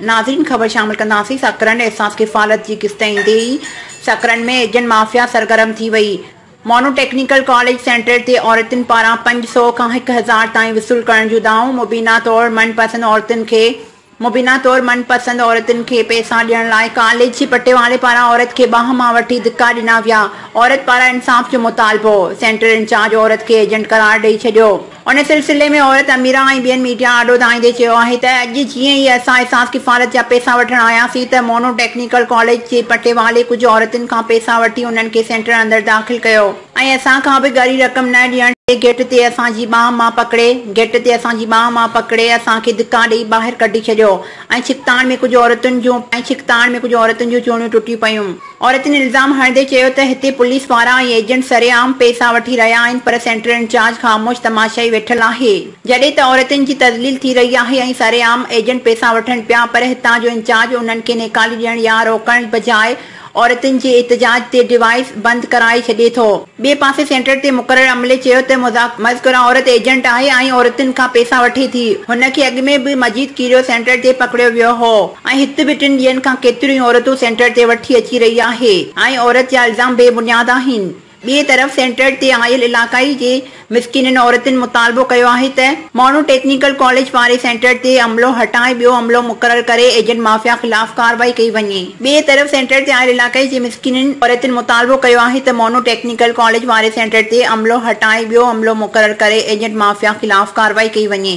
ناظرين خبر شامل ڪنداسين سڪرنڊ احساس ڪفالت جي قسط ايندي ئي سڪرنڊ ۾ ايجنٽ مافيا سرگرم ٿي وئي مونو ٽيڪنيڪل ڪاليج سينٽر تي عورتن پاران پنج سؤ کان هڪ هزار تائين وصول ڪرڻ جون دانهون مبينا طور من پسند عورتن کي مبينا طور من پسند عورتن کي پئسا ڏيڻ لاء ڪاليج جي پٽيوالي پاران عورت کي ٻانهن مان وٺي ڌڪا ڏنا ويا عورت پاران انصاف جو مطالبو سينٽر انچارج عورت کي ايجنٽ قرار ڏئي ڇڏيو. ان سلسلي ۾ عورت اميره ۽ ٻين ميڊيا آڏو ڌائيندي چيو آهي ته اڄ جيئن ئي اسان احساس ڪفالت جا پئسا وٺڻ آياسين ته مونو ٽيڪنيڪل ڪاليج جي پٽيوالي ڪجهه عورتن کان پئسا وٺي انهن کي سينٽر اندر داخل ڪيو ۽ اسان کان به ڳري رقم نه ڏيڻ تي گيٽ تي اسان جي ٻانهن مان پڪڙي گيٽ تي اسان جي ٻانهن مان پڪڙي اسان کي ڌڪا ڏئي ٻاهر ڪڍي ڇڏيو ۽ ڇڪتاڻ ۾ ڪجهه عورتن جون ۽ ڇڪتاڻ ۾ ڪجهه عورتن جون چوڻيون ٽٽي پيون. عورتن الزام هڻندي چيو ته هتي پوليس وارا ۽ ايجنٽ سري عام پئسا وٺي رهيا آهن پر سينٽرل انچارج خاموش تماشائي ويٺل آهي جڏهن ته عورتن جي تذليل ٿي رهي آهي ۽ سري عام ايجنٽ پئسا وٺن پيا پر هتان جو انچارج انهن کي نيڪالي ڏيڻ يا روڪڻ بجاء عورتن جي احتجاج تي ڊوائيس بند ڪرائي ڇڏي ٿو. ٻئي پاسي سينٽر تي مقرر عملي چيو ته مذڪوره عورت ايجنٽ آهي ۽ عورتن کان پئسا وٺي ٿي، هن کي اڳ ۾ به مجيد ڪيريو سينٽر تي پڪڙيو ويو هو ۽ هت به ٽن ڏينهن کان ڪيتريون ئي عورتون سينٽر تي وٺي اچي رهي آهي ۽ عورت جا الزام بي بنياد آهن، ٻئي طرف سينٽر تي آيل علاقائي جي مسڪينن عورتن مطالبو ڪيو آهي ته ماڻهو ٽيڪنيڪل ڪاليج واري سينٽر تي عملو هٽائي ٻيو عملو مقرر ڪري ايجنٽ مافيا خلاف ڪارروائي ڪئي وڃي. ٻئي طرف سينٽر تي آيل علاقائي جي مسڪينن عورتن مطالبو ڪيو آهي ته ماڻهو ٽيڪنيڪل ڪاليج واري سينٽر تي عملو هٽائي ٻيو عملو مقرر ڪري ايجنٽ مافيا خلاف ڪارروائي ڪئي وڃي.